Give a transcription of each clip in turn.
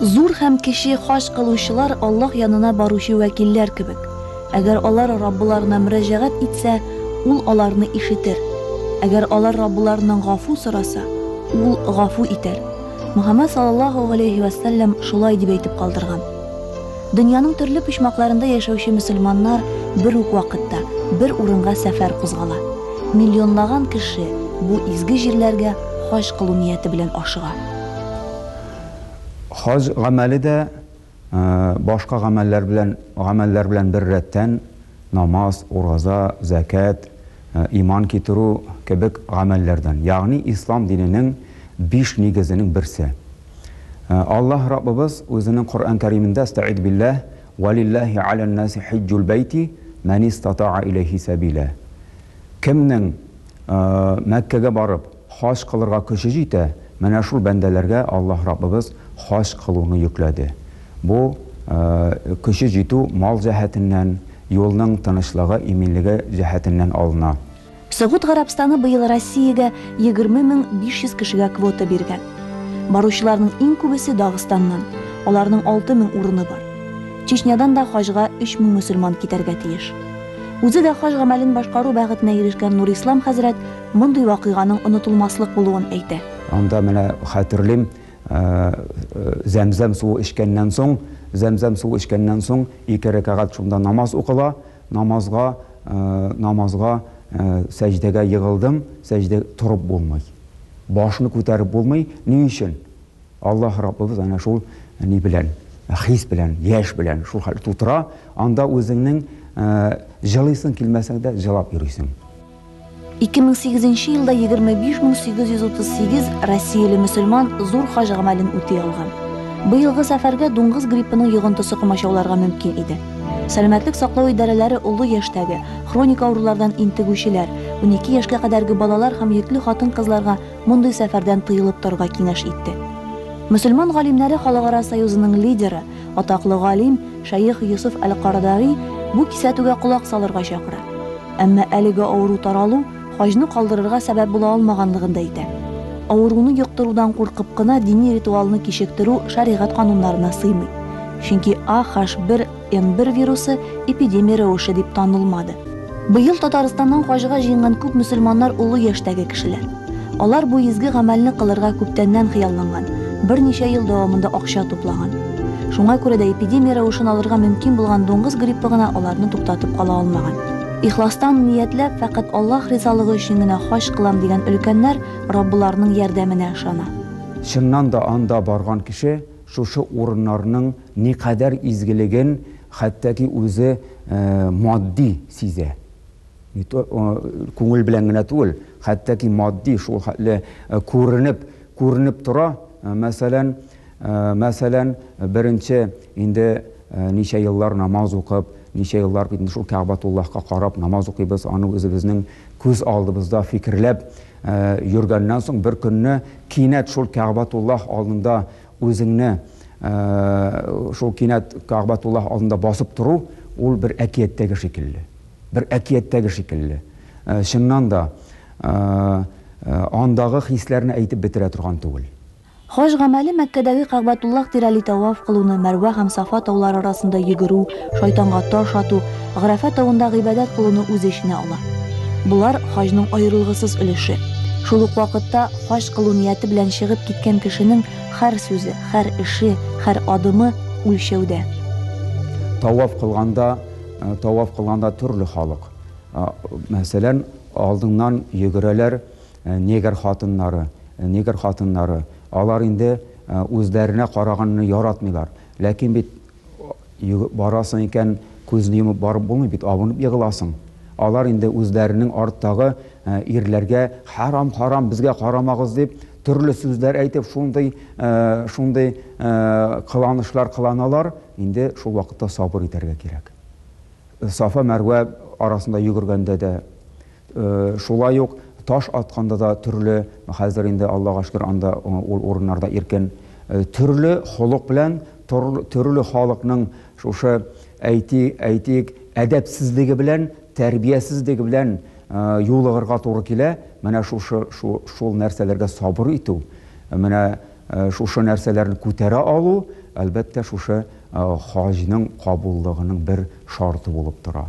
Зур һәм кече хаҗ кылучылар Аллаһ янына баручы вәкилләр кебек. Әгәр алар Раббыларына мөрәҗәгать итсә, Ул аларны ишетер. Әгәр алар Раббыларыннан гафу сораса, Ул гафу итәр. Мөхәммәд саллаллаһу галәйһи вә сәлләм шулай дип әйтеп калдырган. Дөньяның төрле почмакларында яшәүче мөселманнар бер үк вакытта, бер урынга сәфәр кузгала. Миллионлаган кеше бу изге җирләргә хаҗ кылу нияте белән ашыга. Хаҗ гамәле дә башка гамәлләр белән гамәлләр белән беррәттән, намаз, ураза, зәкят, иман китерү кебек гамәлләрдән, ягъни ислам диненең биш нигезенең берсе. Аллаһ Раббыбыз Үзенең Коръән Кәримендә, Әстәгыйзу билләһ, Вә лилләһи гәләннаси хиҗҗул бәйти мән истатаа иләйһи сәбилә. Кемнең Мәккәгә барып, хаҗ кылырга көче җитә, менә шул бәндәләргә Аллаһ Раббыбыз хаҗ кылуны йөкләде. Бу, көче җитү мал җәһәтеннән, юлның тынычлыгы, иминлеге җәһәтеннән алына. Согуд Гарәбстаны быел Россиягә 20 мең 500 кешегә квота биргән. Баручыларның иң күбесе Дагыстаннан, аларның 6 мең урыны бар. Чечнядан да хаҗга 3 мең мөселман китәргә тиеш. Үзе дә хаҗ гамәлен башкару бәхетенә ирешкән Нурислам хәзрәт мондый вакыйганың онытылмаслык булуын әйтә. Анда менә хәтерлим, Зәмзәм суы эчкәннән соң, Зәмзәм суы эчкәннән соң ике рәкәгать шунда намаз укыла, намазга, Намазга, сәҗдәгә егылдым, сәҗдә торып булмый. Башны күтәреп булмый. Ни өчен? Аллаһ Раббыбыз әнә шул ни белән, хис белән, яшь белән шул хәл тутыра, анда үзеңнең җылыйсың килмәсәң дә җылап йөрисең. 2008 елда 25838 россияле мөселман зур хаҗ гамәлен үти алган. Быелгы сәфәргә дуңгыз гриппының йогынтысы комачауларга мөмкин иде. Сәламәтлек саклау идарәләре олы яшьтәге, хроник авырулардан интегүчеләр, 12 яшькә кадәрге балалар һәм йөкле хатын-кызларга мондый сәфәрдән тыелып торырга киңәш итте. Мөселман галимнәре Халыкара союзының лидеры Атаклы галим шәех Йосыф әл-Кардари бу кисәтүгә колак салырга чакыра. Әмма әлеге авыру таралу хаҗны калдырырга сәбәп була алмаганлыгын да әйтә. Авыруны йоктырудан куркып кына дини ритуалны кичектерү шәригать кануннарына сыймый. Чөнки AH1N1 вирусы эпидемия рәвеше дип танылмады. Быел Татарстаннан хаҗга җыенган күп мөселманнар олы яшьтәге кешеләр. Алар бу изге гамәлне кылырга күптәннән хыялланган, берничә ел дәвамында акча туплаган. Шуңа күрә дә эпидемия рәвешен алырга мөмкин булган дуңгыз гриппы гына аларны туктатып кала алмаган. Ихластан ниятләп, фәкать Аллаһ ризалыгы өчен генә хаҗ кылам дигән өлкәннәр Раббыларының ярдәменә ышана. Чыннан да анда барган кеше шушы урыннарның Никадәр изгелеген хәтта ки үзе матди сизә. Не то күңел белән генә түгел, хәтта ки матди шул хәтле күренеп, күренеп тора. Мәсәлән, мәсәлән, беренче инде ничә еллар намаз укып, ничә еллар бит инде шул Кәгъбатуллаһка карап намаз укыйбыз, аны үзебезнең күз алдыбызда фикерләп йөргәннән соң, беркөнне кинәт шул Кәгъбатуллаһ алдында Үзеңне шул кинәт Кәгъбәтуллаһ алдында басып тору, ул бер әкияттәге шикелле. Бер әкияттәге шикелле. Чыннан да, андагы хисләрне әйтеп бетерә торган түгел. Хаҗ гамәле Мәккәдәге Кәгъбәтуллаһ тирәли тәваф кылуны, Мәрвә һәм Сафа таулары арасында йөгерү, шайтанга таш ату, Графә тавында гыйбадәт кылуны үз эченә ала. Болар хаҗның аерылгысыз өлеше. Шул ук вакытта хаҗ кылу нияте белән чыгып киткән кешенең хәр сүзе, хәр эше, хәр адымы үлчәүдә. Таваф кылганда, э, таваф кылганда төрле халык. Э, мәсәлән, алдыңнан йөгерәләр э, негр хатыннары, негр хатыннары. Алар инде үзләренә караганны яратмыйлар. Ләкин бит Йөгеп барасың икән, күзне йомып барып булмый бит, абынып егыласың. Алар инде үзләренең арттагы ирләргә хәрам, харам, безгә карамагыз дип, төрле сүзләр әйтеп, шундый, шундый кыланышлар кыланалар, инде шул вакытта сабыр итәргә кирәк. Сафа-Мәрвә арасында йөгергәндә дә, Шулай ук таш атканда да төрле, хәзер инде, Аллага шөкер, анда ул урыннарда иркен, төрле холык белән, төрле халыкның шушы, әйти, әйтик, әдәпсезлеге белән, тәрбиясезлеге белән юлыгырга туры килә. Менә шушы, шу, шул нәрсәләргә сабыр итү, менә шушы нәрсәләрне күтәрә алу, әлбәттә, шушы хаҗның кабуллыгының бер шарты булып тора.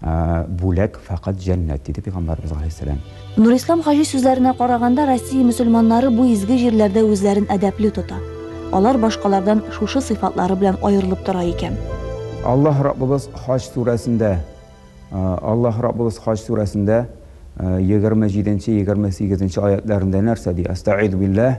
Бүләк фәкать җәннәт, диде пәйгамбәребез галәйһиссәлам. Нурислам хаҗи сүзләренә караганда, Россия мөселманнары бу изге җирләрдә үзләрен әдәпле тота. Алар башкалардан шушы сыйфатлары белән аерылып тора икән. Аллаһ Раббыбыз Хаҗ сүрәсендә Аллаһ Раббыбыз Хаҗ сүрәсендә егерме җиденче-егерме сигезенче аятьләрендә нәрсә ди? Әстәгыйзү билләһ.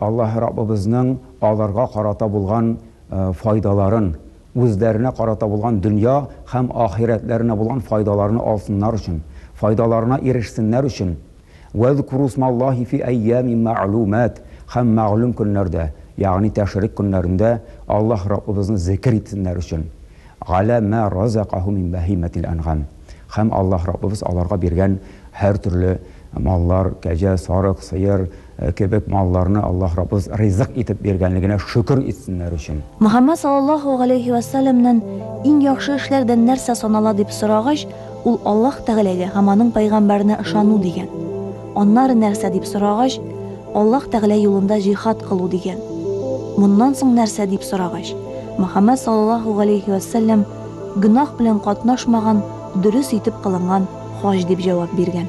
Аллаһ Раббыбызның аларга карата булган файдаларын, үзләренә карата булган дөнья һәм ахирәтләренә булган файдаларны алсыннар өчен, файдаларына ирешсеннәр өчен, Вәзкуру смаллаһи фи әйямин мәгълүмәт, һәм мәгълүм көннәрдә, ягъни тәшрик көннәрендә Аллаһ Раббыбызны зекер итсеннәр өчен. Галә мә разакаһу мин бәһимәтил әнгам, һәм Аллаһ Раббыбыз аларга биргән һәртөрле маллар, кәҗә, сарык, сыер, кебек малларны Аллаһ Раббыбыз ризык итеп биргәнлегенә шөкер итсеннәр өчен. Мөхәммәд саллаллаһу галәйһи вә сәлләмнән иң яхшы эшләрдән нәрсә санала дип сорагач, Ул Аллаһ Тәгаләгә һәм аның пәйгамбәренә ышану дигән. Аннары нәрсә дип сорагач, Аллаһ Тәгалә юлында җихад кылу дигән. Моннан соң нәрсә дип сорагач, Мөхәммәд саллаллаһу галәйһи вә сәлләм гөнаһ белән катнашмаган, дөрес итеп кылынган хаҗ дип җавап биргән.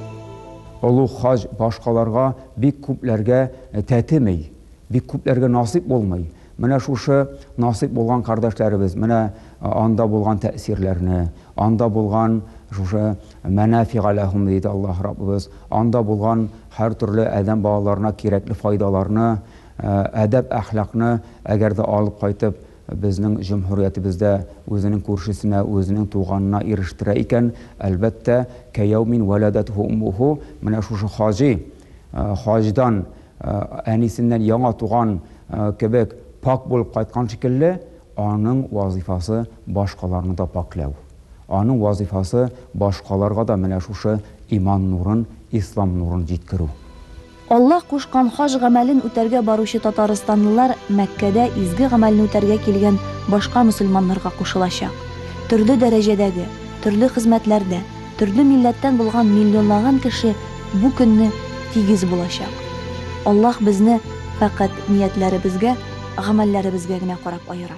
Олуг хаҗ башкаларга, бик күпләргә тәтеми, бик күпләргә насыйп булмый. Менә шушы насыйп булган кардәшләребез менә анда булган тәэсирләрне, анда булган шушы мәнәфига ләһүм диде Аллаһ Раббыбыз, анда булган һәртөрле адәм балаларына кирәкле файдаларны, әдәп-әхлакны әгәр дә алып кайтып, безнең җөмһүриятебездә үзенең күршесенә, үзенең туганына ирештерә икән, әлбәттә, кәяүмин вәләдәтһү уммуһу, менә шушы хаҗи, хаҗдан, Әнисеннән яңа туган кебек пакь булып кайткан шикелле, аның вазыйфасы башкаларны да пакьләү. Аның вазыйфасы башкаларга да менә шушы иман нурын, ислам нурын җиткерү. Аллаһ кушкан хаҗ гамәлен үтәргә баручы татарстанлылар Мәккәдә изге гамәлне үтәргә килгән башка мөселманнарга кушылачак. Төрле дәрәҗәдәге, төрле хезмәтләрдә. Төрле милләттән булган миллионлаган кеше бу көнне тигез булачак. Аллаһ безне фәкать ниятләребезгә, гамәлләребезгә генә карап аера.